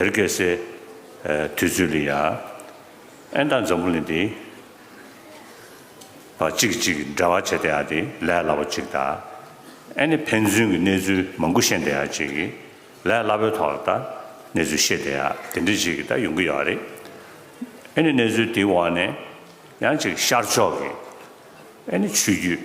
བེར་གད་སའི་དུས་ཚོད་ལ་ཡ། ཨན་དང་འཛམ་བུ་ལིན་དེ། བ་གཅིག་གིས་གཅིག་གི་འབྲེལ་བ་བྱས་དེ་ཡ་དེ་ལས་སླ་པོ་གཅིག་ད། ཨན་ནི་ཕན་ཚུན་གྱི་གནས་ཚུལ་མང་པོ་ཤེས་འདི་ཡ་གཅིག་གིས་ལས་སླ་པོའི་ཐོག་ལ་ད་གནས་ཚུལ་ཤེས་དེ་ཡ་དེ་འདྲ་གཅིག་གིས་ད་ཡོང་གི་ཡོད་རེད། ཨན་ནི་གནས་ཚུལ་དེའི་འོག་ནས་ཡང་གཅིག་ཤར་ཕྱོགས་ཀྱི་ཨན་ནི་ཆོས་བརྒྱུད།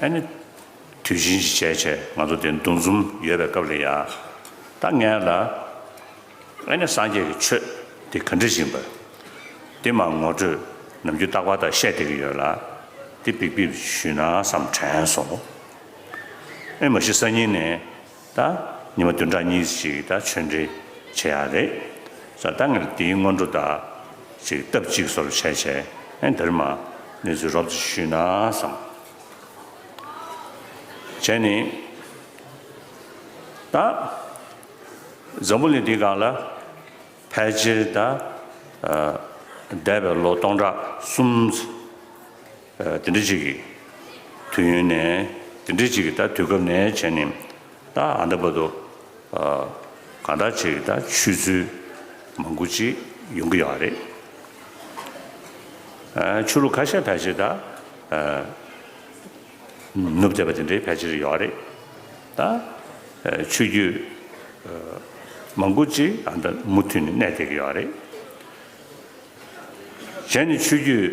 ཨ་ནི། དུས་ཆེན་གྱི་ཆད་ཆེ་ང་ཚོ་དེ་འདུ་འཛོམས་ཡོད་པའི་སྐབས་རེད་ཡ། ད་ངས་ལ། ཨ་ནི་སངས་རྒྱས་ཀྱི་ཆོས་དེ་ག་འདྲི་བཞིན་པ། དེ་མ་ངོ་སྤྲོད་ནམ་རྒྱུན་རྟག་པ་དག་བཤད་བསྡད་ཀྱི་ཡོད་ལ། དེ་འབིག་འབིག་ཞུས་ན་བསམ་དྲན་སོང། ཨེ་མ་གཞི་གསར་རྙིང་ནས། དང། ཉི་མ་བདུན་ཕྲག་གཉིས་ཤིག་དང་ཆོས་འབྲེལ་བྱེད་ཡག་རེད། ཟ་ད་ངེར་འདིའི་སྔོན་འགྲོ་དག་ཅིག་སྟབས་གཅིག་སོར་བྱས་བྱས་ཨེ་འདིར་མ་གནས་ཚུལ་རོབ་ཙི་ཞུས་ན་བསམ། བྱས་ནི། དང། འཛམ་བུ་གླིང་འདི་གང་ལ་ཕལ་ཆེར་དང། འདས་པའི་ལོ་སྟོང་ཕྲག་གསུམ། དེ་འདྲ་ཅིག་གིས། དུས་ཡུན་ནས། དེ་འདྲ་ཅིག་གིས་ད་དུས་སྐབས་ནས་བྱས་ནི། ད་ཨ་འདྲ་བ་དུ། གང་འདྲ་ཅིག་གིས་ད་ཆུད་ཚུལ། མང་པོ་ཅིག་ཡོང་གི་ཡོད་རེད། ཆུ་ལུག་ཁ་ཤས་ཕལ་ཆེར་ད། ནུབ་བལྟས་པ་དེ་འདྲའི་ཕལ་ཆེར་ཡོད་རེད། ད། ཆུ་རྒྱུད། མང་པོ་ཅིག་ཨ་འདྲ་མུ་མཐུད་ནས་གནས་བསྡད་ཀྱི་ཡོད་རེད། གཞན་ནི་ཆུ་རྒྱུད།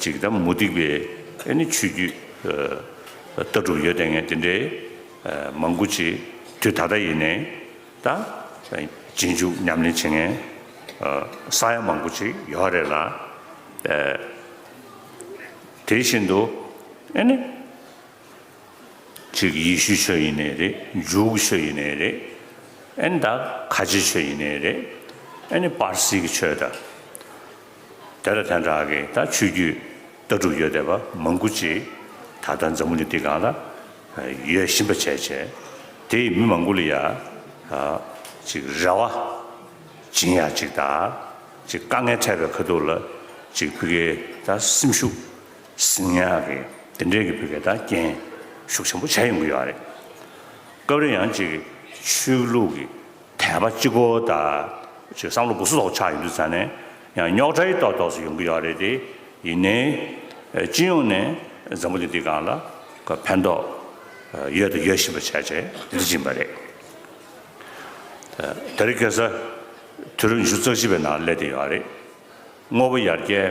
ཅིག་དང་མུ་སྟེགས་པའི་ནི་ཆོས་རྒྱུད། ལྟ་གྲུབ་ཡོད་དེ་ངས་དེ་འདྲའི། མང་དགུ་ཅིག་དུས་ད་ལྟ་ཡིན་ནས། ད། རྗེས་འཇུག་ཉམས་ལེན་བྱེད་ངན། ས་ཡ་མང་དགུ་ཅིག་ཡོད་ཨ་རེད་ལ། དེ་བཞིན་དུ། ནི། ཅིག་ཡེ་ཤུའི་ཆོས་ཡིན་ནས་རེད། འཇུག་གི་ཆོས་ཡིན་ནས་རེད། ད། ཁ་ཆེའི་ཆོས་ཡིན་ནས་རེད། ནི། པར་སིའི་གི་ཆོས་དང། དེ་ལ་དན་དྲག་གི་ད་ཆོས་རྒྱུད་ལྟ་གྲུབ་ཡོད་བསྡད་པ་མང་པོ་ཅིག་ད་ལྟ་འཛམ་བུ་ནི་འདི་གང་ལ་ཡོད་ཤིན་པ་བྱས་བྱས་དེ་ཡི་མི་མང་པོ་ལ་ཡ་ཅིག་རེ་བ་སྦྱིན་ཡ་ཅིག་ད་ཅིག་དཀའ་ངལ་འཕྲད་པའི་ཁ་ཐུག་ལ་ཅིག་བུ་གའི་ད་སེམས་ཤུགས་ཟིང་ཡ་གི་དེ་འདྲས་གི་བུ་གའི་ད་རྐྱེན་ཤུགས་ཆེན་པོ་བྱས་ཡོང་གི་ཡོད་རེད་སྐབས་རེ་ཡང་ཅིག་ཆོས་ལུགས་ཀྱི་དད་པ་གཅིག་གོ། ད་ཅིག་བསམ་བློ་སྒོ་སུ་ལོག་ཆགས་ཡོད་དུས་ཙང་ནས་ཡང་རྙོག་དྲ་ཡི་ལྟོག་ལྟོག་སུ་ཡོང་གི་ཡོད་རེད་དེ། ཡིན་ནའི། སྤྱི་ཡོངས་ནས་འཛམ་བུ་གླིང་འདི་གང་ལ་ཕན་ཐོགས་ཡོད་དང་ཡོད་བཞིན་པ་བྱས་བྱས་འདི་སྦྱིན་པ་རེད། ད་རེ་སྐལ་ས་དུས་རབས་ཉི་ཤུ་རྩ་བཞི་པའི་ནང་སླེབས་བསྡད་ཡོད་རེད། དངོས་པོ་ཡར་རྒྱས་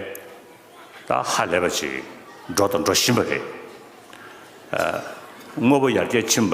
ད་ཧ་ལས་པ་ཅིག་འགྲོ་དང་འགྲོ་བཞིན་པ་རེད། དངོས་པོ་ཡར་རྒྱས་ཕྱིན་པ།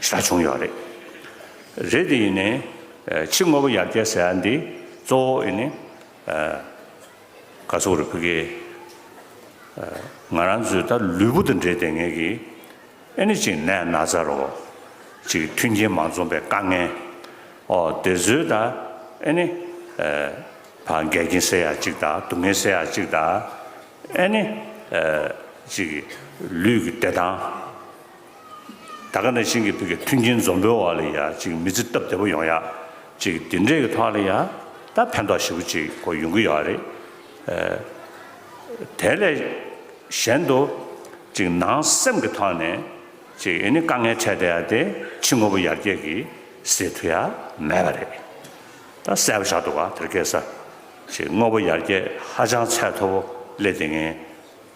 ས་བྱུང་ཡོད་རེད། རེད་དེ་ཡིན་ནས་ཕྱི་དངོས་པོ་ཡར་རྒྱས་ཟེར་ཡ་འདི་གཙོ་བོ་ཡིན་ནས་ག་ཚོགས་རེད་བུ་གེ། ང་རང་ཚོའི་ད་ལུས་པོ་དང་འབྲེལ་ལྟས་ངན་གི་ཨེ་ནི་ཅིག་ནད་ན་ཚ་རོ། ཅིག་མཐུན་རྐྱེན་མ་འཛོམས་པའི་དཀའ་ངལ། ཨོ་དེ་ཚོའི་ད་ཨེ་ནི་བ་འགས་རྐྱེན་སེལ་ཡ་ཅིག་ད་སྡུག་བསྔལ་སེལ་ཡ་ཅིག་ད་ཨེ་ནི་ཅིག་ལུས་ཀྱི་བདེ་ཐང། ད་ག་ནས་ཤིང་གི་ཕུག་གི་མཐུན་རྐྱེན་འཛོམས་པོའི་འོག་ལ་ཡ་ཅིག་མི་ཚེ་སྟབས་བདེ་པོ་ཡོང་ཡ་ཅིག་དེ་འདྲའི་གི་ཐོག་ལ་ཡ་ད་ཕན་ཐོག་ཞིབ་པོ་ཅིག་གོ་ཡོང་གི་ཡོད་རེད། དེ་ལས་གཞན་དུ་ཅིག་ནང་སེམས་གི་ཐོག་ནས་ཅིག་ཨེ་ནི་དཀའ་ངལ་འཕྲད་བསྡད་ཡ་དེ་ཕྱི་དངོས་པོ་ཡར་རྒྱས་གི་ཟེར་ཐུ་ཡ་མེད་པ་རེད། ད་གསལ་པོ་ཆགས་འདུག་ག་དེར་སྐད་ས་ཅིག་དངོས་པོ་ཡར་རྒྱས་ཧ་ཅང་ཚད་མཐོ་པོ་སླེབས་བསྡད་ངེས།